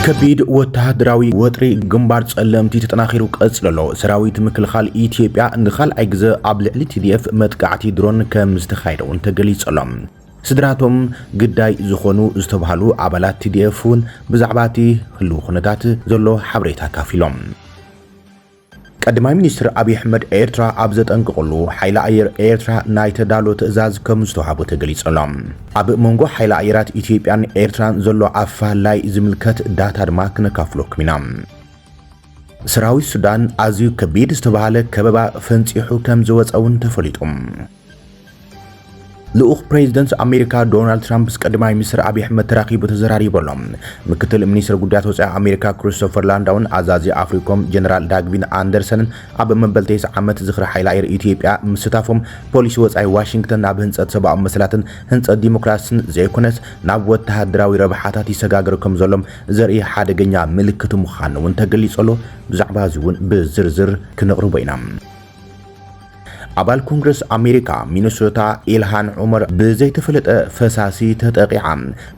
ከቢድ ወተሃደራዊ ወጥሪ ግንባር ጸለምቲ ተጠናኺሩ ቀጽሎ ኣሎ። ሰራዊት ምክልኻል ኢትዮጵያ ንኻልኣይ ግዘ ኣብ ልዕሊ ቲዲኤፍ መጥቃዕቲ ድሮን ከም ዝተኻየደ እውን ተገሊጹ ኣሎ። ስድራ'ቶም ግዳይ ዝኾኑ ዝተብሃሉ ኣባላት ቲዲኤፍ'ውን ብዛዕባ'ቲ ህሉው ኩነታት ዘሎ ሓበሬታ ኣካፊሎም። ቀዳማይ ሚኒስትር ኣብይ ኣሕመድ ኤርትራ ኣብ ዘጠንቅቕሉ፣ ሓይሊ ኣየር ኤርትራ ናይ ተዳሎ ትእዛዝ ከምዝተውሃቦ ተገሊጹ'ሎ። ኣብ መንጎ ሓይሊ ኣየራት ኢትዮጵያን ኤርትራን ዘሎ ኣፈላላይ ዝምልከት ዳታ ድማ ክነካፍለኩም ኢና። ሰራዊት ሱዳን ኣዝዩ ከቢድ ዝተብሃለ ከበባ ፈንጺሑ ከምዝወጸ'ውን ተፈሊጡ። ልኡኽ ፕሬዝደንት ኣሜሪካ ዶናልድ ትራምፕ ምስ ቀዳማይ ሚኒስትር ኣብዪ ኣሕመድ ተራኺቡ ተዘራሪቡ ኣሎ። ምክትል ሚኒስትር ጉዳያት ወፃኢ ኣሜሪካ ክሪስቶፈር ላንዳውን ኣዛዚ ኣፍሪኮም ጀነራል ዳግቪን ኣንደርሰንን ኣብ መበል ቴስዓ ዓመት ዝኽሪ ሓይሊ ኣየር ኢትዮጵያ ምስታፎም ፖሊሲ ወፃኢ ዋሽንግተን ናብ ህንፀት ሰብኣዊ መሰላትን ህንፀት ዲሞክራሲን ዘይኮነስ ናብ ወተሃደራዊ ረብሓታት ይሰጋገር ከም ዘሎም ዘርኢ ሓደገኛ ምልክት ምዃኑ እውን ተገሊፁ ኣሎ። ብዛዕባ እዚ እውን ብዝርዝር ክነቕርቦ ኢና። ኣባል ኮንግረስ ኣሜሪካ ሚነሶታ ኢልሃን ዑመር ብዘይተፈለጠ ፈሳሲ ተጠቒዓ።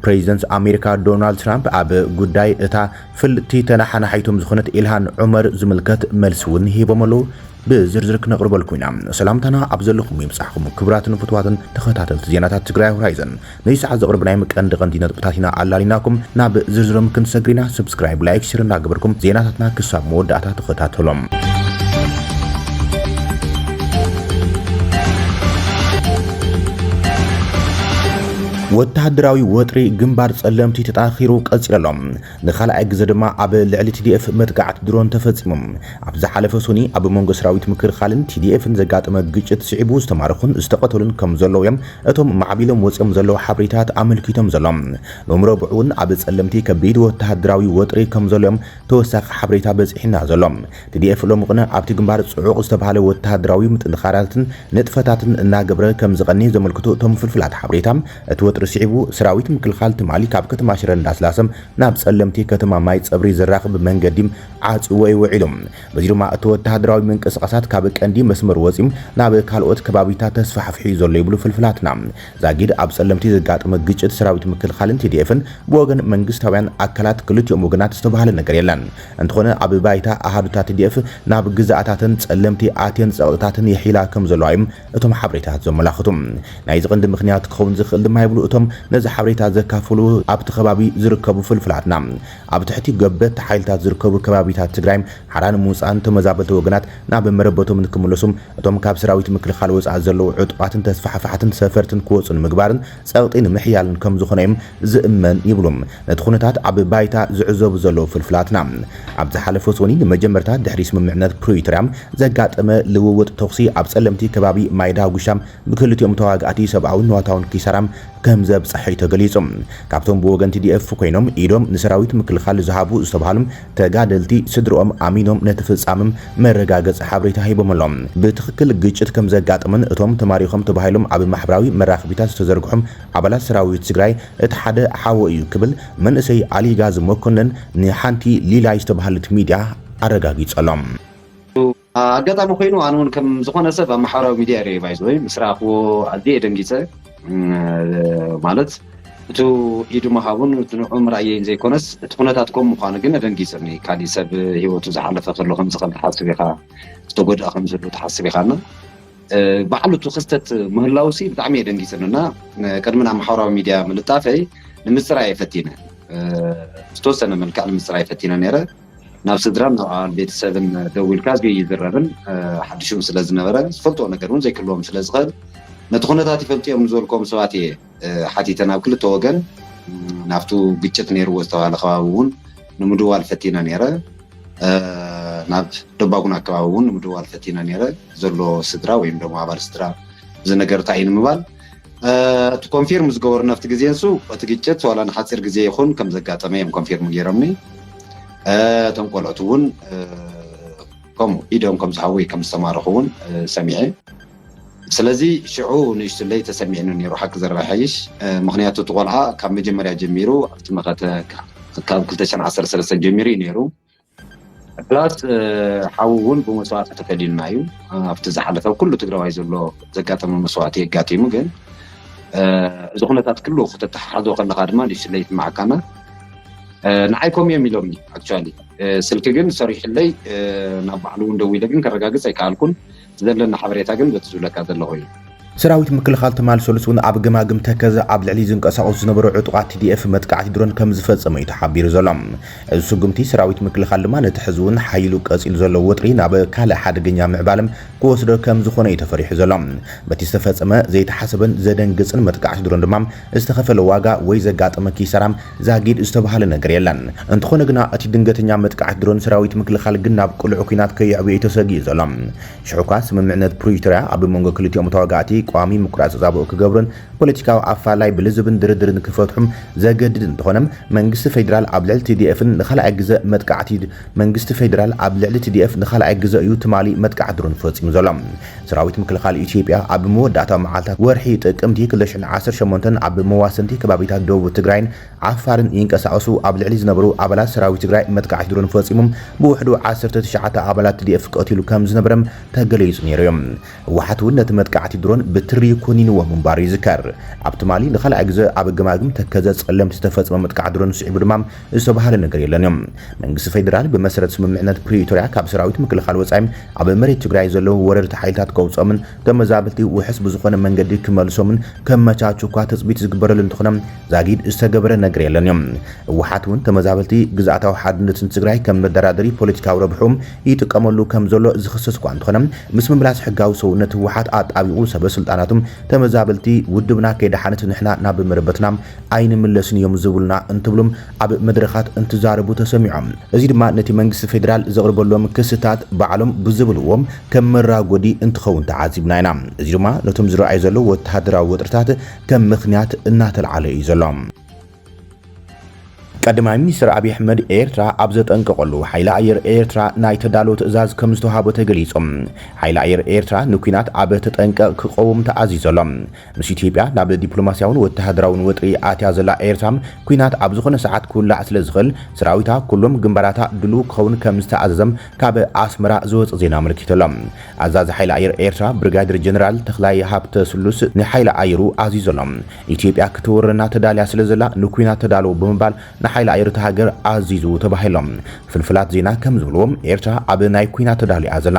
ፕሬዚደንት ኣሜሪካ ዶናልድ ትራምፕ ኣብ ጉዳይ እታ ፍልጥቲ ተነሓናሒቶም ዝኾነት ኢልሃን ዑመር ዝምልከት መልሲ እውን ሂቦም ኣለው። ብዝርዝር ክነቕርበልኩም ኢና። ሰላምታና ኣብ ዘለኹም ይብጻሕኩም ክቡራትን ፍትዋትን ተኸታተልቲ ዜናታት ትግራይ ሆራይዘን። ነዚ ሰዓት ዘቕርብናዮም ቀንዲ ቀንዲ ነጥብታት ኢና ኣላሊናኩም ናብ ዝርዝሮም ክንሰግር ኢና። Subscribe፣ Like፣ Share እናገበርኩም ዜናታትና ክሳብ መወዳእታ ተኸታተሎም። ወተሃደራዊ ወጥሪ ግንባር ጸለምቲ ተጠናኺሩ ቀጺሉ ኣሎ። ንኻልኣይ ግዘ ድማ ኣብ ልዕሊ ቲዲኤፍ መጥቃዕቲ ድሮን ተፈጺሙ። ኣብ ዝሓለፈ ሶኒ ኣብ መንጎ ሰራዊት ምክልኻልን ቲዲኤፍን ዘጋጠመ ግጭት ስዒቡ ዝተማረኹን ዝተቐተሉን ከም ዘለዉ እዮም እቶም ማዕቢሎም ወጺኦም ዘለዉ ሓብሪታት ኣመልኪቶም ዘሎ ኑም ረቡዕውን ኣብ ጸለምቲ ከቢድ ወተሃደራዊ ወጥሪ ከምዘሎ እዮም ተወሳኺ ሓብሬታ በጺሒና ዘሎ። ትዲኤፍ ሎሚ ቕነ ኣብቲ ግንባር ጽዑቕ ዝተብሃለ ወተሃደራዊ ምጥንኻራትን ንጥፈታትን እናገብረ ከምዝቐኔ ዘመልክቱ እቶም ፍልፍላት ሓብሬታ እቲ ወጥሪ ስዒቡ ሰራዊት ምክልኻል ትማሊ ካብ ከተማ ሽረ እንዳስላሰ ናብ ጸለምቲ ከተማ ማይ ጸብሪ ዘራኽብ መንገዲ ዓጽዩዎ እዩ ውዒሉ። በዚ ድማ እቲ ወተሃደራዊ ምንቅስቓሳት ካብ ቀንዲ መስመሩ ወጺኡ ናብ ካልኦት ከባቢታት ተስፋሕፊሑ እዩ ዘሎ ይብሉ ፍልፍላትና። ዛጊድ ኣብ ጸለምቲ ዘጋጠመ ግጭት ሰራዊት ምክልኻልን ቲዲኤፍን ብወገን መንግስታውያን ኣካላት ክልቲኦም ወገናት ዝተባህለ ነገር የለን። እንተኾነ ኣብ ባይታ ኣሃዱታት ቲዲኤፍ ናብ ግዝኣታተን ጸለምቲ ኣትየን ጸቕጥታተን የሕይላ ከምዘለዋ እዮም እቶም ሓበሬታታት ዘመላኽቱ። ናይዚ ቀንዲ ምኽንያት ክኸውን ዝኽእል ድማ ይብሉ እቶም ነዚ ሓበሬታ ዘካፈሉ ኣብቲ ከባቢ ዝርከቡ ፍልፍላትና። ኣብ ትሕቲ ገበቲ ሓይልታት ዝርከቡ ከባቢታት ትግራይም ሓራ ንምውፃእን ተመዛበልቲ ወገናት ናብ መረበቶም ንክምለሱም እቶም ካብ ሰራዊት ምክልኻል ወፃኢ ዘለዉ ዕጡቓትን ተስፋሕፋሕትን ሰፈርትን ክወፁ ንምግባርን ፀቕጢ ንምሕያልን ከምዝኾነ እዩም ዝእመን ይብሉ ነቲ ኩነታት ኣብ ባይታ ዝዕዘቡ ዘለዉ ፍልፍላትና። ኣብ ዝሓለፈ ሰኑይ ንመጀመርታ ድሕሪ ስምምዕነት ፕሪቶርያ ዘጋጠመ ልውውጥ ተኹሲ ኣብ ፀለምቲ ከባቢ ማይዳጉሻ ብክልቲኦም ተዋጋእቲ ሰብኣውን ንዋታውን ኪሳራ ከምዘብፀሐ'ዩ ተገሊፁ። ካብቶም ብወገን TDF ኮይኖም ኢዶም ንሰራዊት ምክልኻል ዝሃቡ ዝተብሃሉ ተጋደልቲ ስድርኦም ኣሚኖም ነቲ ፍፃመ መረጋገፂ ሓበሬታ ሂቦም ኣለው። ብትኽክል ግጭት ከምዘጋጠመን እቶም ተማሪኾም ተባሂሎም ኣብ ማሕበራዊ መራኽቢታት ዝተዘርግሑ ኣባላት ሰራዊት ትግራይ እቲ ሓደ ሓወይ እዩ ክብል መንእሰይ ኣሊጋዝ መኮነን ንሓንቲ ሊላይ ዝተብሃለት ሚድያ ኣረጋጊፁ ኣሎ። ኣጋጣሚ ኮይኑ ኣነ ውን ከም ዝኮነ ሰብ ኣብ ማሕበራዊ ሚድያ ሪኤ ባይዘወይ ምስ ረኣክዎ ኣዝየ ደንጊፀ ማለት እቱ ኢዱ ምሃቡን እቱ ንዕኡ ምርኣየይን ዘይኮነስ እቲ ኩነታት ከምኡ ምኳኑ ግን ኣደንጊፅኒ ካሊእ ሰብ ሂወቱ ዝሓለፈ ከሎ ከምዚ ከም ትሓስብ ኢካ ዝተጎድኣ ከም ዝህሉ ትሓስብ ኢካ እና ባዕሉ እቱ ክስተት ምህላው ሲ ብጣዕሚ እየ ደንጊፅኒ እና ቅድሚ ናብ ማሕበራዊ ሚድያ ምልጣፈይ ንምፅራይ እየ ፈቲነ ብዝተወሰነ መልክዕ ንምፅራይ ፈቲነ ነይረ ናብ ስድራን ናብ ኣባል ቤተሰብን ደዊልካ ኣዝዩ ይዝረብን ሓድሽም ስለ ዝነበረ ዝፈልጥዎ ነገር እውን ዘይክህልዎም ስለ ዝኽእል ነቲ ኩነታት ይፈልጡ እዮም ንዝበልክዎም ሰባት እየ ሓቲተ ናብ ክልተ ወገን ናብቱ ግጭት ነይርዎ ዝተባህለ ከባቢ እውን ንምድዋል ፈቲነ ነይረ ናብ ደባጉን ኣከባቢ እውን ንምድዋል ፈቲነ ነይረ ዘሎ ስድራ ወይም ደሞ ኣባል ስድራ እዚ ነገር እንታይ እዩ ንምባል እቲ ኮንፊርም ዝገበሩ ናብቲ ግዜ ንሱ እቲ ግጭት ዋላ ንሓፂር ግዜ ይኹን ከም ዘጋጠመ እዮም ኮንፊርም ገይሮምኒ እቶም ቆልዑት እውን ከምኡ ኢዶም ከም ዝሃወይ ከም ዝተማረኹ እውን ሰሚዐ ስለዚ ሽዑ ንእሽትለይ ተሰሚዕኒ ነይሩ ሓቂ ዘረባ ይሓይሽ ምክንያቱ እቲ ቆልዓ ካብ መጀመርያ ጀሚሩ ኣብቲ መኸተ ካብ 213 ጀሚሩ እዩ ነይሩ ፕላስ ሓዉ ዉን ብመስዋእቲ ተፈሊዩና እዩ ኣብቲ ዝሓለፈ ኩሉ ትግራዋይ ዘሎ ዘጋጠመ መስዋእቲ እዩ ኣጋጢሙ ግን እዚ ኩነታት ኩሉ ከተተሓሕዞ ከለካ ድማ ንእሽትለይ ይስማዓካና ንዓይ ከምኡ እዮም ኢሎምኒ ኣክቹዋሊ ስልኪ ግን ሰሪሑለይ ናብ ባዕሉ ዉን ደዊለ ግን ከረጋግፅ ኣይከኣልኩን ዘለና ሓበሬታ ግን በቲ ዝብለካ ዘለኹ እዩ። ሰራዊት ምክልኻል ትማል ሰሉስ እውን ኣብ ገማግም ተከዘ ኣብ ልዕሊ ዝንቀሳቐሱ ዝነበሩ ዕጡቓት ቲዲኤፍ መጥቃዕቲ ድሮን ከምዝፈፀመ እዩ ተሓቢሩ ዘሎ። እዚ ስጉምቲ ሰራዊት ምክልኻል ድማ ነቲ ሕዚ እውን ሓዪሉ ቀፂሉ ዘሎ ወጥሪ ናብ ካልእ ሓደገኛ ምዕባለ ክወስዶ ከምዝኾነ እዩ ተፈሪሑ ዘሎ። በቲ ዝተፈፀመ ዘይተሓሰበን ዘደንግፅን መጥቃዕቲ ድሮን ድማ ዝተኸፈለ ዋጋ ወይ ዘጋጠመ ኪሳራ ዛጊድ ዝተብሃለ ነገር የለን። እንተኾነ ግና እቲ ድንገተኛ መጥቃዕት ድሮን ሰራዊት ምክልኻል ግን ናብ ቅሉዕ ኲናት ከየዕብዮ እዩ ተሰጊኡ ዘሎ። ሽሕ'ኳ ስምምዕነት ፕሪቶርያ ኣብ መንጎ ክልቲኦም ተዋጋእቲ ቀዋሚ ምቁራጽ ተጻብኦ ክገብሩን ፖለቲካዊ ኣፈላላይ ብልዝብን ድርድርን ክፈትሑ ዘገድድ እንተኾነ መንግስቲ ፌደራል ኣብ ልዕሊ ቲዲኤፍን ንኻልኣይ ግዘ መጥቃዕቲ መንግስቲ ፌደራል ኣብ ልዕሊ ቲዲኤፍ ንኻልኣይ ግዘ እዩ ትማሊ መጥቃዕት ድሮን ፈጺሙ ዘሎ። ሰራዊት ምክልኻል ኢትዮጵያ ኣብ መወዳእታዊ መዓልታት ወርሒ ጥቅምቲ ክልተ ሽሕን ዓሰርተ ሸሞንተን ኣብ መዋሰንቲ ከባቢታት ደቡብ ትግራይን ዓፋርን ይንቀሳቐሱ ኣብ ልዕሊ ዝነበሩ ኣባላት ሰራዊት ትግራይ መጥቃዕቲ ድሮን ፈፂሙ ብውሕዱ ዓሰርተ ትሽዓተ ኣባላት ትዲኤፍ ቀቲሉ ከምዝነበረም ተገሊፁ ነይሩ እዩ። ህወሓት እውን ነቲ መጥቃዕቲ ድሮን ብትሪ ኮኒንዎ ምንባሩ ይዝከር። ኣብ ትማሊ ንካልኣይ ግዘ ኣብ ገማግም ተከዘ ፀለምቲ ዝተፈፀመ መጥቃዕቲ ድሮን ስዒቡ ድማ ዝተብሃለ ነገር የለን እዮም። መንግስቲ ፌደራል ብመሰረት ስምምዕነት ፕሪቶርያ ካብ ሰራዊት ምክልኻል ወፃኢ ኣብ መሬት ትግራይ ዘለዉ ወረርቲ ሓይልታት ከውፅኦምን ተመዛበልቲ ውሑስ ብዝኾነ መንገዲ ክመልሶምን ከመቻቹ እኳ ትፅቢት ዝግበረሉ እንተኾነ ዛጊድ ዝተገበረ ነገር የለን እዮም። ህወሓት እውን ተመዛበልቲ ግዝኣታዊ ሓድነትን ትግራይ ከም መደራደሪ ፖለቲካዊ ረብሕኡ ይጥቀመሉ ከምዘሎ ዝኽሰስ እኳ እንተኾነ ምስ ምምላስ ሕጋዊ ሰውነት ህወሓት ኣጣቢቑ ሰበስልጣናቱ ተመዛበልቲ ውድብና ከይደሓነት ንሕና ናብ መረበትና ኣይንምለስን እዮም ዝብሉና እንትብሉ ኣብ መድረኻት እንትዛረቡ ተሰሚዖም። እዚ ድማ ነቲ መንግስቲ ፌደራል ዘቕርበሎም ክስታት ባዕሎም ብዝብልዎ ከም መራጎዲ እንትኸውን ተዓዚብና ኢና። እዚ ድማ ነቶም ዝረኣዩ ዘለዉ ወተሃደራዊ ወጥርታት ከም ምኽንያት እናተልዓለ እዩ ዘሎ። ቀዳማይ ሚኒስተር ኣብዪ ኣሕመድ ኤርትራ ኣብ ዘጠንቀቐሉ፣ ሓይሊ ኣየር ኤርትራ ናይ ተዳሎ ትእዛዝ ከም ዝተውሃቦ ተገሊጹ። ሓይሊ ኣየር ኤርትራ ንኲናት ኣብ ተጠንቀቕ ክቐውም ተኣዚዙ ኣሎ። ምስ ኢትዮጵያ ናብ ዲፕሎማስያውን ወተሃደራውን ወጥሪ ኣትያ ዘላ ኤርትራ፣ ኲናት ኣብ ዝኾነ ሰዓት ክውላዕ ስለዝኽእል፣ ሰራዊታ ኩሎም ግንባራታ ድሉው ክኸውን ከምዝተኣዘዘም ካብ ኣስመራ ዝወጽእ ዜና ኣመልኪቱ'ሎ። ኣዛዚ ሓይሊ ኣየር ኤርትራ ብርጋዴር ጀነራል ተኽላይ ሃብተስሉስ ንሓይሊ ኣየሩ ኣዚዙ'ሎ። ኢትዮጵያ ክትወረና ተዳልያ ስለዘላ ንኲናት ተዳለዉ ብምባል ንሓይሊ ኣየር እታ ሃገር ኣዚዙ ተባሂሉ'ሎ። ፍልፍላት ዜና ከምዝብልዎ፣ ኤርትራ ኣብ ናይ ኲናት ተዳሉ'ያ ዘላ።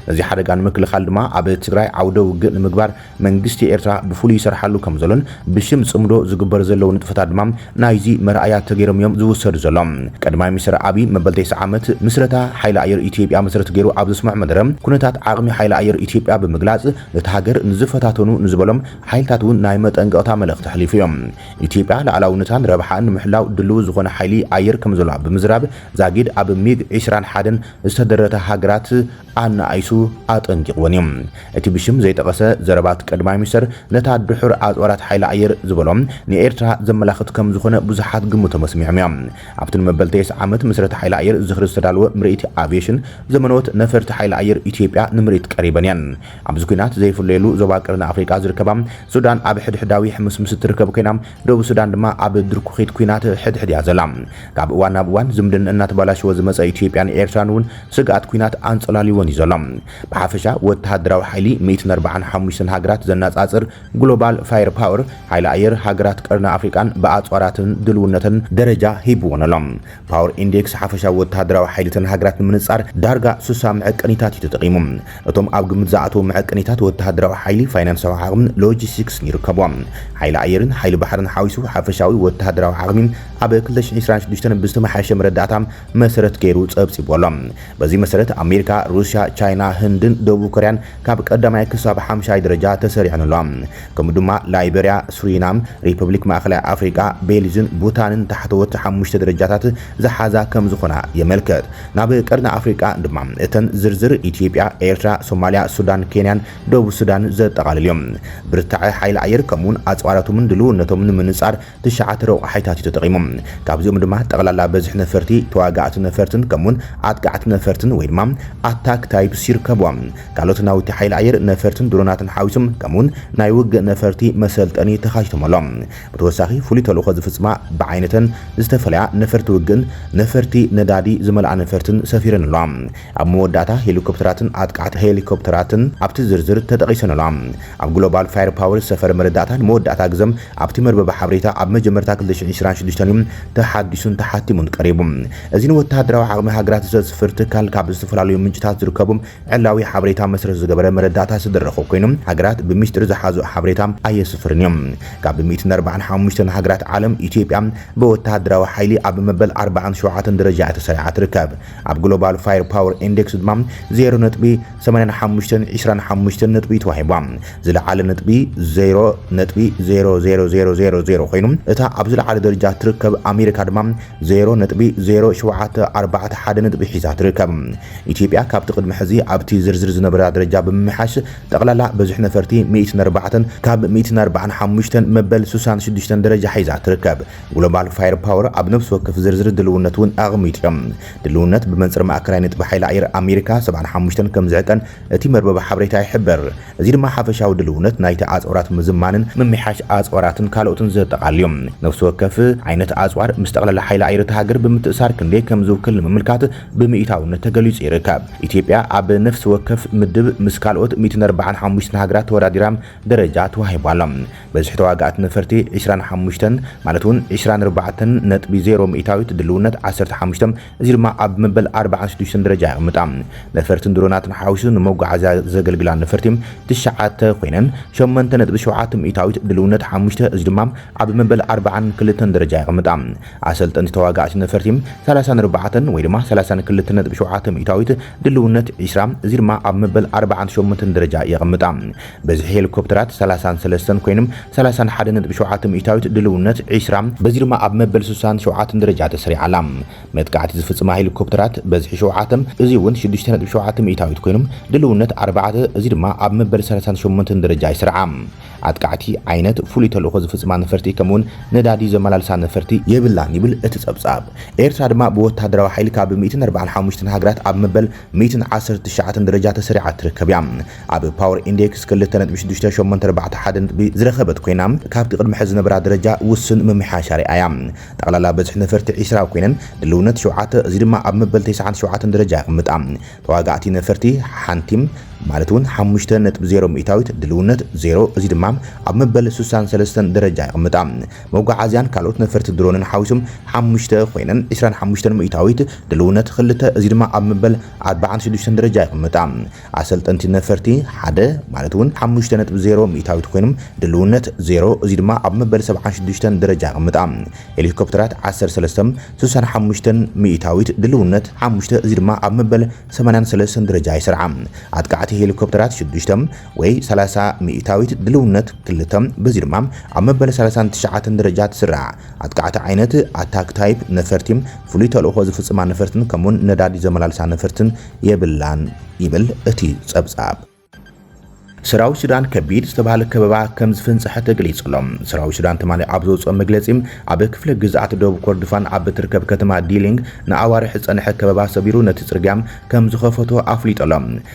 ነዚ ሓደጋ ንምክልኻል ድማ ኣብ ትግራይ ዓውደ ውግእ ንምግባር መንግስቲ ኤርትራ ብፍሉይ ይሰርሓሉ ከም ዘሎን ብሽም ጽምዶ ዝግበር ዘለዉ ንጥፈታት ድማ ናይዚ መርኣያ ተገይሮም እዮም ዝውሰዱ ዘሎም። ቀድማይ ሚኒስተር ኣቢይ መበል ተስዓ ዓመት ምስረታ ሓይሊ ኣየር ኢትዮጵያ መሰረት ገይሩ ኣብ ዘስምዖ መደረ ኩነታት ዓቕሚ ሓይሊ ኣየር ኢትዮጵያ ብምግላጽ ነታ ሃገር ንዝፈታተኑ ንዝበሎም ሓይልታት እውን ናይ መጠንቀቕታ መልእኽቲ ኣሕሊፉ እዮ። ኢትዮጵያ ልኣላውነታን ረብሓኣን ንምሕላው ድልዊ ዝኾነ ሓይሊ ኣየር ከም ዘሎኣ ብምዝራብ ዛጊድ ኣብ ሚግ ዕስራን ሓደን ዝተደረታ ሃገራት ኣነኣኢሱ ኣጠንቂቕወን እዩ። እቲ ብሽም ዘይጠቐሰ ዘረባት ቀድማይ ሚኒስተር ነታ ድሑር ኣጽዋራት ሓይሊ ኣየር ዝበሎ ንኤርትራ ዘመላኽት ከም ዝኾነ ብዙሓት ግምቶም ኣስሚዖም እዮም። ኣብቲ ንመበልተየስ ዓመት ምስረታ ሓይሊ ኣየር ዝኽሪ ዝተዳለወ ምርኢት ኣቭየሽን ዘመነዎት ነፈርቲ ሓይሊ ኣየር ኢትዮጵያ ንምርኢት ቀሪበን እየን። ኣብዚ ኲናት ዘይፍለየሉ ዞባ ቀርኒ ኣፍሪቃ ዝርከባ ሱዳን ኣብ ሕድሕዳዊ ሕምስምስ እትርከብ ኮይና፣ ደቡብ ሱዳን ድማ ኣብ ድርኩኺት ኲናት ሕድሕድ እያ ዘላ። ካብ እዋን ናብ እዋን ዝምድንእ እናተባላሸወ ዝመጸ ኢትዮጵያን ኤርትራን እውን ስግኣት ኲናት ኣንጸላልይወን እዩ ዘሎ። ብሓፈሻ ወተሃደራዊ ሓይሊ ሚእትን ኣርብዓን ሓሙሽተን ሃገራት ዘናጻጽር ግሎባል ፋየር ፓወር፣ ሓይሊ ኣየር፣ ሃገራት ቀርኒ ኣፍሪቃን ብኣጽዋራትን ድልውነተን ደረጃ ሂብወን ኣሎ። ፓወር ኢንዴክስ ሓፈሻዊ ወተሃደራዊ ሓይሊ እተን ሃገራት ንምንጻር ዳርጋ ስሳ መዐቀኒታት እዩ ተጠቒሙ። እቶም ኣብ ግምት ዝኣተዉ መዐቀኒታት ወተሃደራዊ ሓይሊ፣ ፋይናንሳዊ ዓቕምን ሎጂስቲክስን ይርከብዎም። ሓይሊ ኣየርን ሓይሊ ባሕርን ሓዊሱ ሓፈሻዊ ወተሃደራዊ ዓቕሚ ኣብ ክልተ ሽሕን ዕስራን ሽዱሽተን ብዝተመሓየሸ መረዳእታ መሰረት ገይሩ ጸብጺቡ ኣሎ። በዚ መሰረት ኣሜሪካ፣ ሩስያ፣ ቻይና፣ ህንድን ደቡብ ኮርያን ካብ ቀዳማይ ክሳብ ሓምሻይ ደረጃ ተሰሪዐን ኣለዋ። ከምኡ ድማ ላይበርያ፣ ሱሪናም፣ ሪፐብሊክ ማእኸላይ ኣፍሪቃ፣ ቤሊዝን ቡታንን ታሕተዎት ሓሙሽተ ደረጃታት ዝሓዛ ከምዝኾና የመልክት። ናብ ቀርኒ ኣፍሪቃ ድማ እተን ዝርዝር ኢትዮጵያ፣ ኤርትራ፣ ሶማልያ፣ ሱዳን፣ ኬንያን ደቡብ ሱዳንን ዘጠቓልል እዩ። ብርታዐ ሓይሊ ኣየር ከምኡ'ውን ኣጽዋራቶምን ድልውነቶምን ንምንጻር ትሽዓተ ረቋሒታት እዩ ተጠቒሙ። ካብዚኦም ድማ ጠቕላላ በዝሒ ነፈርቲ፣ ተዋጋእቲ ነፈርትን ከምኡ'ውን ኣጥቃዕቲ ነፈርትን ወይ ድማ ኣታክ ታይፕስ ይርከብዎም። ካልኦት ናውቲ ሓይሊ ኣየር፣ ነፈርትን ድሮናትን ሓዊሱ ከምኡ'ውን ናይ ውግእ ነፈርቲ መሰልጠኒ ተኻቲቶም ኣሎም። ብተወሳኺ ፍሉይ ተልእኾ ዝፍጽማ ብዓይነተን ዝተፈለያ ነፈርቲ ውግእን ነፈርቲ ነዳዲ ዝመልኣ ነፈርትን ሰፊረን ኣለዋ። ኣብ መወዳእታ ሄሊኮፕተራትን ኣጥቃዕቲ ሄሊኮፕተራትን ኣብቲ ዝርዝር ተጠቒሰን ኣለዋ። ኣብ ግሎባል ፋየርፓወር ዝሰፈረ መረዳእታ ንመወዳእታ ግዘ ኣብቲ መርበበ ሓበሬታ ኣብ መጀመርታ ክልተ ሽሕን ዕስራን ሽዱሽተን እዩ ተሓዲሱን ተሓቲሙን ቀሪቡ። እዚ ንወተሃደራዊ ዓቕሚ ሃገራት ዘስፍር ትካል ካብ ዝተፈላለዩ ምንጭታት ዝርከቡ ዕላዊ ሓበሬታ መሰረት ዝገበረ መረዳእታ ዝተደረኾ ኮይኑ ሃገራት ብሚስጢር ዝሓዝኦ ሓበሬታ ኣየስፍርን እዩ። ካብ ሚእትን ኣርባዓን ሓሙሽተን ሃገራት ዓለም ኢትዮጵያ ብወተሃደራዊ ሓይሊ ኣብ መበል ኣርባዓን ሸውዓተን ደረጃ እያ ተሰሪዓ ትርከብ። ኣብ ግሎባል ፋየርፓወር ኢንዴክስ ድማ ዜሮ ነጥቢ ሰማንያን ሓሙሽተን ዕስራን ሓሙሽተን ነጥቢ እዩ ተዋሂባ። ዝለዓለ ነጥቢ ዜሮ ነጥቢ ዜሮ ዜሮ ዜሮ ዜሮ ዜሮ ኮይኑ እታ ኣብ ዝለዓለ ደረጃ እትርከብ ኣሜሪካ ድማ ዜሮ ነጥቢ ዜሮ ሸውዓተ ኣርባዕተ ሓደ ነጥቢ ሒዛ ትርከብ። ኢትዮጵያ ካብቲ ቅድሚ ሕዚ ኣብቲ ዝርዝር ዝነበራ ደረጃ ብምምሕያሽ ጠቕላላ በዝሒ ነፈርቲ ሚእትን ኣርባዕተን ካብ ሚእትን ኣርባዓን ሓሙሽተን መበል ስሳን ሽዱሽተን ደረጃ ሒዛ ትርከብ። ግሎባል ፋየር ፓወር ኣብ ነፍሲ ወከፍ ዝርዝር ድልውነት እውን ኣቕሚጡ እዩ። ድልውነት ብመንጽር ማእከላይ ነጥቢ ሓይሊ ኣየር ኣሜሪካ ሰብዓን ሓሙሽተን ከም ዝዕቀን እቲ መርበብ ሓበሬታ ይሕብር። እዚ ድማ ሓፈሻዊ ድልውነት ናይቲ ኣጽዋራት ምዝማንን ምምሕያሽ ኣጽዋራትን ካልኦትን ዘጠቓልል እዩ። ነፍሲ ወከፍ ዓይነት ኣጽዋር ምስ ጠቕላላ ሓይሊ ኣየር እታ ሃገር ብምትእሳር ክንደይ ከም ዝውክል ንምምልካት ብሚኢታውነት ተገሊጹ ይርከብ። ኢትዮጵያ ኣብ ነፍሲ ወከፍ ምድብ ምስ ካልኦት ሚእትን ኣርብዓን ሓሙሽተን ሃገራት ተወዳዲራ ደረጃ ተዋሂቡ ኣሎ። በዝሒ ተዋጋእቲ ነፈርቲ ዕስራን ሓሙሽተን፣ ማለት እውን ዕስራን ኣርባዕተን ነጥቢ ዜሮ ሚእታዊት፣ ድልውነት ዓሰርተ ሓሙሽተ፣ እዚ ድማ ኣብ መበል ኣርባዓን ሽዱሽተን ደረጃ የቕምጣ። ነፈርትን ድሮናትን ሓዊሱ ንመጓዓዝያ ዘገልግላ ነፈርቲ ትሽዓተ ኮይነን፣ ሸሞንተ ነጥቢ ሸውዓተ ሚእታዊት፣ ድልውነት ሓሙሽተ፣ እዚ ድማ ኣብ መበል ኣርባዓን ክልተን ደረጃ የቕምጣ። ኣሰልጠንቲ ተዋጋእቲ ነፈርቲ ሰላሳን ኣርባዕተን፣ ወይ ድማ ሰላሳን ክልተን ነጥቢ ሸውዓተ ሚእታዊት፣ ድልውነት ዕስራ፣ እዚ ድማ ኣብ መበል ኣርባዓን ሸሞንተን ደረጃ የቕምጣ። በዝሒ ሄሊኮፕተራት ሰላሳን ሰለስተን ኮይኑም ሰላሳን ሓደ ነጥቢ ሸውዓተ ሚእታዊት ድልውነት ዒስራ በዚ ድማ ኣብ መበል ስሳን ሸውዓተን ደረጃ ተሰሪዓ ኣላ። መጥቃዕቲ ዝፍጽማ ሄሊኮፕተራት በዝሒ ሸውዓተ እዚ እውን ሽዱሽተ ነጥቢ ሸውዓተ ሚእታዊት ኮይኑም ድልውነት ኣርባዕተ እዚ ድማ ኣብ መበል ሰላሳን ሸሞንተን ደረጃ ይስርዓ። ኣጥቃዕቲ ዓይነት ፍሉይ ተልእኾ ዝፍጽማ ነፈርቲ ከምኡውን ነዳዲ ዘመላልሳ ነፈርቲ የብላን ይብል እቲ ጸብጻብ። ኤርትራ ድማ ብወተሃደራዊ ሓይሊ ካብ ሚእትን ኣርባዓን ሓሙሽተን ሃገራት ኣብ መበል ሚእትን ዓሰርተ ትሽዓተን ደረጃ ተሰሪዓ ትርከብ እያ። ኣብ ፓወር ኢንዴክስ ክልተ ነጥቢ ሽዱሽተ ሸሞንተ ኣርባዕተ ሓደ ነጥቢ ዝረኸበት ኮይና ካብቲ ቅድሚ ሕዚ ዝነበራ ደረጃ ውሱን ምምሕያሽ ኣርኢያ እያ። ጠቕላላ በዝሒ ነፈርቲ ዒስራ ኮይነን ድልውነት ሸውዓተ እዚ ድማ ኣብ መበል ተስዓን ሸውዓተን ደረጃ የቕምጣ። ተዋጋእቲ ነፈርቲ ሓንቲ ማለት እውን ሓሙሽተ ነጥቢ ዜሮ ሚእታዊት ድልውነት ዜሮ እዚ ድማ ኣብ መበል ስሳን ሰለስተን ደረጃ የቕምጣ። መጓዓዝያን ካልኦት ነፈርቲ ድሮንን ሓዊሶም ሓሙሽተ ኮይነን ዕስራን ሓሙሽተን ሚእታዊት ድልውነት ኽልተ እዚ ድማ ኣብ መበል ኣርባዓን ሽዱሽተን ደረጃ የቕምጣ። ኣሰልጠንቲ ነፈርቲ ሓደ ማለት እውን ሓሙሽተ ነጥቢ ዜሮ ሚእታዊት ኮይኖም ድልውነት ዜሮ እዚ ድማ ኣብ መበል ሰብዓን ሽዱሽተን ደረጃ የቕምጣ። ሄሊኮፕተራት ዓሰርተ ሰለስተ ስሳን ሓሙሽተን ሚእታዊት ድልውነት ሓሙሽተ እዚ ድማ ኣብ መበል ሰማንያን ሰለስተን ደረጃ ይሰርዓ። ኣጥቃዕቲ ሄሊኮፕተራት ሽዱሽተ ወይ ሰላሳ ሚእታዊት ድልውነት ክልተ፣ በዚ ድማ ኣብ መበል ሰላሳን ትሽዓተን ደረጃ ትስራዕ። ኣጥቃዕቲ ዓይነት፣ Attack Type፣ ነፈርቲ፣ ፍሉይ ተልእኾ ዝፍጽማ ነፈርትን ከምኡ'ውን ነዳዲ ዘመላልሳ ነፈርትን የብላን ይብል እቲ ጸብጻብ። ሰራዊት ሱዳን ከቢድ ዝተባህለ ከበባ ከም ዝፍንጸሐ ተገሊጹ ኣሎ። ሰራዊት ሱዳን ትማሊ ኣብ ዘውጽኦ መግለጺ፣ ኣብ ክፍለ ግዝኣት ደቡብ ኮርዱፋን ኣብ እትርከብ ከተማ ዲሊንግ ንኣዋርሕ ዝጸንሐ ከበባ ሰቢሩ ነቲ ጽርግያ ከም ዝኸፈቶ ኣፍሊጡ ኣሎ።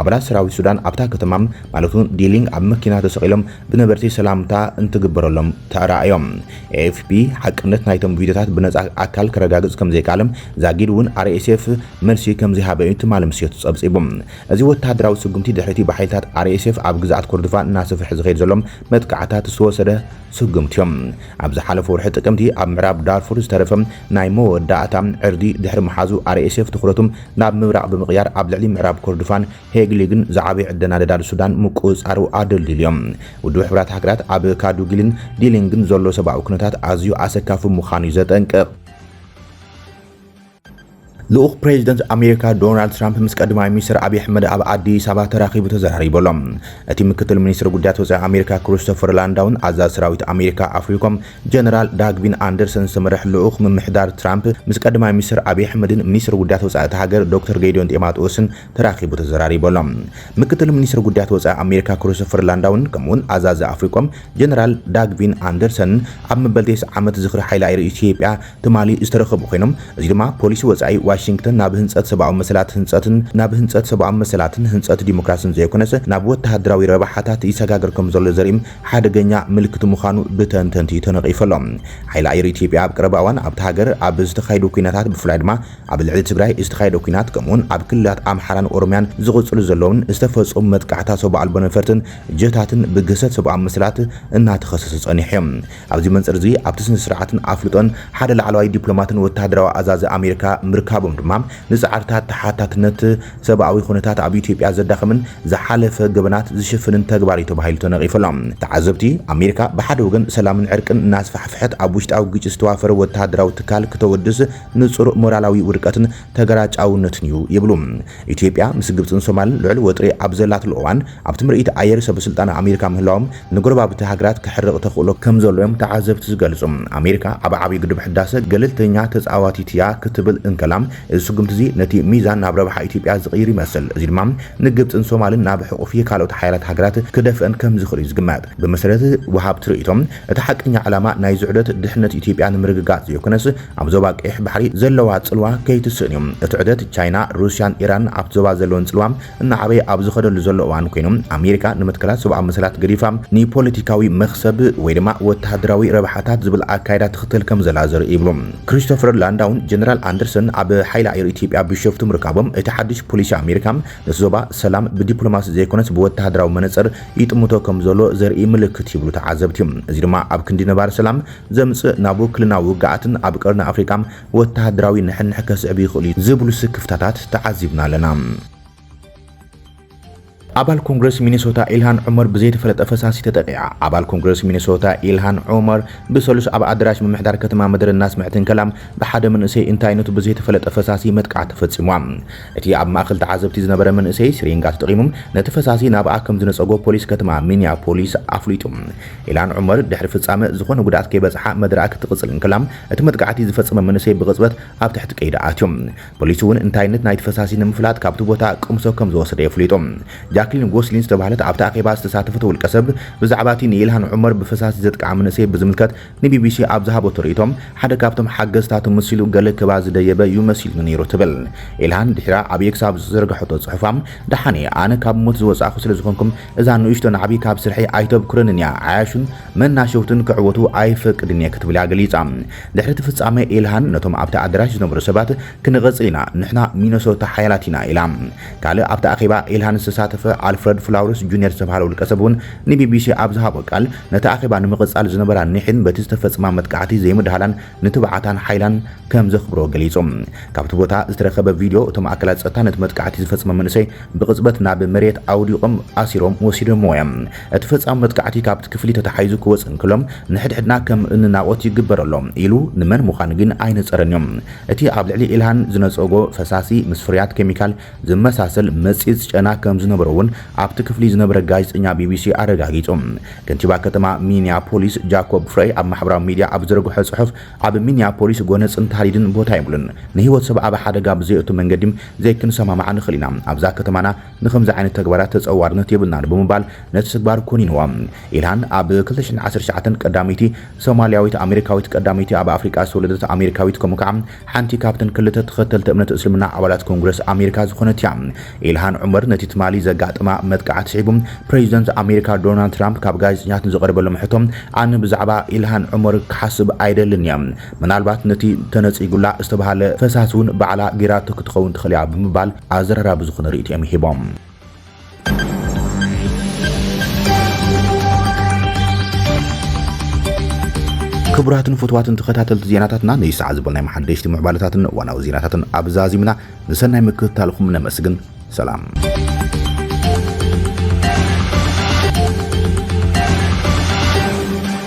ኣባላት ሰራዊት ሱዳን ኣብታ ከተማ ማለት'ውን ዲሊንግ ኣብ መኪና ተሰቒሎም ብነበርቲ ሰላምታ እንትግበረሎም ተራእዮም። ኤኤፍፒ ሓቅነት ናይቶም ቪድዮታት ብነጻ ኣካል ከረጋግጽ ከምዘይከኣለ፣ ዛጊድ እውን ኣርኤስኤፍ መልሲ ከምዘይሃበ'ዩ ትማሊ ምሸት ጸብጺቡ። እዚ ወተሃደራዊ ስጉምቲ ድሕሪ'ቲ ብሓይልታት ኣርኤስኤፍ ኣብ ግዝኣት ኮርዶፋን እናሰፍሐ ዝኸይድ ዘሎ መጥቃዕትታት ዝተወሰደ ስጉምቲ'ዩ። ኣብ ዝሓለፈ ወርሒ ጥቅምቲ ኣብ ምዕራብ ዳርፉር ዝተረፈ ናይ መወዳእታ ዕርዲ ድሕሪ ምሓዙ ኣርኤስኤፍ ትኹረቱ ናብ ምብራቕ ብምቕያር ኣብ ልዕሊ ምዕራብ ኮርዱፋን ሄግሊግን ዝዓበየ ዕደና ነዳዲ ሱዳን ምቁጽጻሩ ኣደልዲልዮ። ውድብ ሕቡራት ሃገራት ኣብ ካዱጊልን ዲሊንግን ዘሎ ሰብኣዊ ኩነታት ኣዝዩ ኣሰካፊ ምዃኑ'ዩ ዘጠንቅቕ። ልኡኽ ፕሬዚደንት ኣሜሪካ ዶናልድ ትራምፕ ምስ ቀዳማይ ሚኒስትር ኣብዪ ኣሕመድ ኣብ ኣዲስ ኣበባ ተራኺቡ ተዘራሪቡ ኣሎ። እቲ ምክትል ሚኒስትር ጉዳያት ወፃኢ ኣሜሪካ ክሪስቶፈር ላንዳውን ኣዛዚ ሰራዊት ኣሜሪካ ኣፍሪኮም ጀነራል ዳግቪን ኣንደርሰን ዝተመርሕ ልኡኽ ምምሕዳር ትራምፕ ምስ ቀዳማይ ሚኒስተር ኣብዪ ኣሕመድን ሚኒስተር ጉዳያት ወጻኢ እታ ሃገር ዶክተር ጌዲዮን ጢማጥዎስን ተራኺቡ ተዘራሪቡ ኣሎ። ምክትል ሚኒስተር ጉዳያት ወጻኢ ኣሜሪካ ክሪስቶፈር ላንዳውን ከምኡ'ውን ኣዛዚ ኣፍሪኮም ጀነራል ዳግቪን ኣንደርሰንን ኣብ መበል ቴስዓ ዓመት ዝኽሪ ሓይሊ ኣየር ኢትዮጵያ ትማሊ ዝተረኸቡ ኮይኖም እዚ ድማ ፖሊሲ ወጻኢ ዋሽንግተን ናብ ህንጸት ሰብኣዊ መሰላት ህንጸትን ናብ ህንጸት ሰብኣዊ መሰላትን ህንጸት ዲሞክራስን ዘይኮነስ ናብ ወተሃደራዊ ረብሓታት ይሰጋገር ከምዘሎ ዘርኢ ሓደገኛ ምልክት ምዃኑ ብተንተንቲ ተነቒፉ ኣሎ። ሓይሊ ኣየር ኢትዮጵያ ኣብ ቀረባ እዋን ኣብታ ሃገር ኣብ ዝተኻየዱ ኲናታት ብፍላይ ድማ ኣብ ልዕሊ ትግራይ ዝተኻየደ ኲናት ከምኡ'ውን ኣብ ክልላት ኣምሓራን ኦሮምያን ዝቕፅሉ ዘለዉን ዝተፈፀሙ መጥቃዕትታት ሰብ ኣልቦ ነፈርትን ጀታትን ብግህሰት ሰብኣዊ መሰላት እናተኸሰሰ ፀኒሑ እዩ። ኣብዚ መንፅር እዚ ኣብቲ ስነ-ስርዓትን ኣፍልጦን ሓደ ላዕለዋይ ዲፕሎማትን ወተሃደራዊ ኣዛዚ ኣሜሪካ ምርካቦም ድማ ንፃዕርታት ተሓታትነት ሰብኣዊ ኩነታት ኣብ ኢትዮጵያ ዘዳኽምን ዝሓለፈ ገበናት ዝሽፍንን ተግባር እዩ ተባሂሉ ተነቒፉ ኣሎ። ተዓዘብቲ፣ ኣሜሪካ ብሓደ ወገን ሰላምን ዕርቅን እናስፋሕፍሐት ኣብ ውሽጣዊ ግጭት ዝተዋፈረ ወተሃደራዊ ትካል ክተወድስ ንጹር ሞራላዊ ውድቀትን ተገራጫውነትን እዩ ይብሉ። ኢትዮጵያ ምስ ግብጽን ሶማልን ልዑል ወጥሪ ኣብ ዘላትሉ እዋን፣ ኣብቲ ምርኢት ኣየር ሰበስልጣን ኣሜሪካ ምህላዎም ንጎረባብቲ ሃገራት ከሕርቕ ተኽእሎ ከምዘሎ'ዮም ተዓዘብቲ ዝገልጹ። ኣሜሪካ ኣብ ዓብዩ ግድብ ሕዳሰ ገለልተኛ ተጻዋቲት'ያ ክትብል እንከላ፣ እዚ ስጉምቲ'ዚ ነቲ ሚዛን ናብ ረብሓ ኢትዮጵያ ዝቕይር ይመስል። እዚ ድማ ንግብጽን ሶማልን ናብ ሕቝፊ ካልኦት ሓያላት ሃገራት ክደፍእን ከምዝኽእል'ዩ ዝግመት። ብመሰረት ወሃብቲ ርእይቶ፣ እቲ ሓቀኛ ዕላማ ናይዚ ዑደት ድሕነት ኢትዮጵያ ንምርግጋጽ ዘይኮነስ ኣብ ዞባ ቀይሕ ባሕሪ ዘለዋ ጽልዋ ከይትስእን'ዩ። እቲ ዑደት ቻይና፣ ሩስያን ኢራንን ኣብቲ ዞባ ዘለወን ጽልዋ እናዓበየ ኣብ ዝኸደሉ ዘሎ እዋን ኮይኑ፣ ኣሜሪካ ንምትካላት ሰብኣዊ መሰላት ገዲፋ ንፖለቲካዊ መኽሰብ ወይ ድማ ወተሃደራዊ ረብሓታት ዝብል ኣካይዳ ትኽተል ከምዘላ ዘርኢ ይብሉ ክሪስቶፈር ላንዳውን ጀነራል ኣንደርሰን ኣብ ሓይሊ ኣየር ኢትዮጵያ ቢሾፍቱ ምርካቦም እቲ ሓድሽ ፖሊሲ ኣሜሪካ ነቲ ዞባ ሰላም ብዲፕሎማሲ ዘይኮነስ ብወተሃደራዊ መነጽር ይጥምቶ ከምዘሎ ዘርኢ ምልክት ይብሉ ተዓዘብቲ። እዚ ድማ ኣብ ክንዲ ነባሪ ሰላም ዘምጽእ ናብ ውክልና ውግኣትን ኣብ ቀርኒ ኣፍሪቃ ወተሃደራዊ ንሕንሕ ከስዕብ ይኽእል'ዩ ዝብሉ ስክፍታታት ተዓዚብና ኣለና። ኣባል ኮንግረስ ሚነሶታ ኢልሃን ዑመር ብዘይተፈለጠ ፈሳሲ ተጠቒዓ። ኣባል ኮንግረስ ሚነሶታ ኢልሃን ዑመር ብሰሉስ ኣብ ኣደራሽ ምምሕዳር ከተማ መደረ እናስምዐት እንከላ ብሓደ መንእሰይ እንታይነቱ ብዘይተፈለጠ ፈሳሲ መጥቃዕቲ ተፈጺሙዋ። እቲ ኣብ ማእከል ተዓዘብቲ ዝነበረ መንእሰይ ሲሪንጋ ተጠቒሙ ነቲ ፈሳሲ ናብኣ ከም ዝነጸጎ ፖሊስ ከተማ ሚኒያፖሊስ ኣፍሊጡ። ኢልሃን ዑመር ድሕሪ ፍጻመ ዝኾነ ጉድኣት ከይበጽሓ መደረኣ ክትቕጽል እንከላ፣ እቲ መጥቃዕቲ ዝፈጸመ መንእሰይ ብቕጽበት ኣብ ትሕቲ ቀይዲ ኣትዩ። ፖሊስ'ውን እንታይነት ናይቲ ፈሳሲ ንምፍላጥ ካብቲ ቦታ ቅምሶ ከም ዝወሰደ የፍሊጡ። ጃክሊን ጎስሊን ዝተባህለት ኣብቲ ኣኼባ ዝተሳተፈት ውልቀሰብ፣ ብዛዕባ እቲ ንኢልሃን ዑመር ብፈሳሲ ዘጥቅዓ መንእሰይ ብዝምልከት ንቢቢሲ ኣብ ዝሃበቶ ርእይቶ፣ ሓደ ካብቶም ሓገዝታ ተመሲሉ ገለ ክባ ዝደየበ ዩ መሲሉኒ ነይሩ ትብል። ኢልሃን ድሒራ ኣብ ኤክስ ኣብ ዝዘርገሐቶ ጽሑፋ፣ ደሓን'የ፣ ኣነ ካብ ሞት ዝወጻእኩ ስለ ዝኾንኩ እዛ ንእሽቶ ናዕቢ ካብ ስርሐይ ኣይተብኩረንን'ያ፣ ዓያሹን መናሸውትን ክዕወቱ ኣይፈቅድን'የ ክትብል'ያ ገሊጻ። ድሕሪ'ቲ ፍጻመ ኢልሃን ነቶም ኣብቲ ኣደራሽ ዝነበሩ ሰባት ክንቕጽል ኢና፣ ንሕና ሚነሶታ ሓያላት ኢና ኢላ። ካልእ ኣብቲ ኣኼባ ኢልሃን ዝተሳተፈ ኣልፍረድ ፍላውረስ ጁንየር ዝተባህለ ውልቀሰብ'ውን ንቢቢሲ ኣብ ዝሃቦ ቃል፣ ነቲ ኣኼባ ንምቕጻል ዝነበራ ኒሕን በቲ ዝተፈጸማ መጥቃዕቲ ዘይምድሃላን ንትብዓታን ሓይላን ከም ዘኽብሮ ገሊጹ። ካብቲ ቦታ ዝተረኸበ ቪድዮ፣ እቶም ኣካላት ጸጥታ ነቲ መጥቃዕቲ ዝፈጸመ መንእሰይ ብቕጽበት ናብ መሬት ኣውዲቖም ኣሲሮም ወሲዶምዎ እዮም። እቲ ፈጻሚ መጥቃዕቲ ካብቲ ክፍሊ ተታሒዙ ክወጽእ እንከሎ፣ ንሕድሕድና ከም እንናቖት ይግበር ኣሎ ኢሉ ንመን ምዃኑ ግን ኣይነጸረን እዩ። እቲ ኣብ ልዕሊ ኢልሃን ዝነጸጎ ፈሳሲ ምስ ፍርያት ኬሚካል ዝመሳሰል መጽጽ ጨና ከም ዝነበሮ'ውን ኣብቲ ክፍሊ ዝነበረ ጋዜጠኛ ቢቢሲ ኣረጋጊጹ። ከንቲባ ከተማ ሚኒያፖሊስ ጃኮብ ፍረይ ኣብ ማሕበራዊ ሚዲያ ኣብ ዝዘርግሖ ጽሑፍ፣ ኣብ ሚኒያፖሊስ ጎነጽን ታህዲድን ቦታ የብሉን። ንህይወት ሰብ ኣብ ሓደጋ ብዘየእቱ መንገዲ ዘይክንሰማማዕ ንኽእል ኢና። ኣብዛ ከተማና ንኸምዚ ዓይነት ተግባራት ተጸዋርነት የብልናን ብምባል ነቲ ተግባር ኮኒንዎ። ኢልሃን ኣብ ክልተ ሽሕን ዓሰርተ ትሽዓተን ቀዳመይቲ ሶማልያዊት ኣመሪካዊት ቀዳመይቲ ኣብ ኣፍሪቃ ዝተወለደት ኣመሪካዊት ከምኡ ከኣ ሓንቲ ካብተን ክልተ ተኸተልቲ እምነት እስልምና ኣባላት ኮንግረስ ኣሜሪካ ዝኾነት እያ። ኢልሃን ዑመር ነቲ ትማሊ ዘጋጠማ መጥቃዕቲ ስዒቡ ፕሬዚደንት ኣሜሪካ ዶናልድ ትራምፕ ካብ ጋዜጠኛታት ንዝቐረበሎም ሕቶ ኣነ ብዛዕባ ኢልሃን ዑመር ክሓስብ ኣይደልን እየ፣ ምናልባት ነቲ ተነፂጉላ ዝተብሃለ ፈሳሲ እውን ባዕላ ገይራቶ ክትኸውን ትኽእል እያ ብምባል ኣዘራራቢ ዝኾነ ሪኢቶኦም ሂቦም። ክቡራትን ፍትዋትን ተኸታተልቲ ዜናታትና ነይ ሰዓ ዝበልናይ መሓደሽቲ ምዕባለታትን እዋናዊ ዜናታትን ኣብ ዛዚምና ንሰናይ ምክትታልኹም ነመስግን ሰላም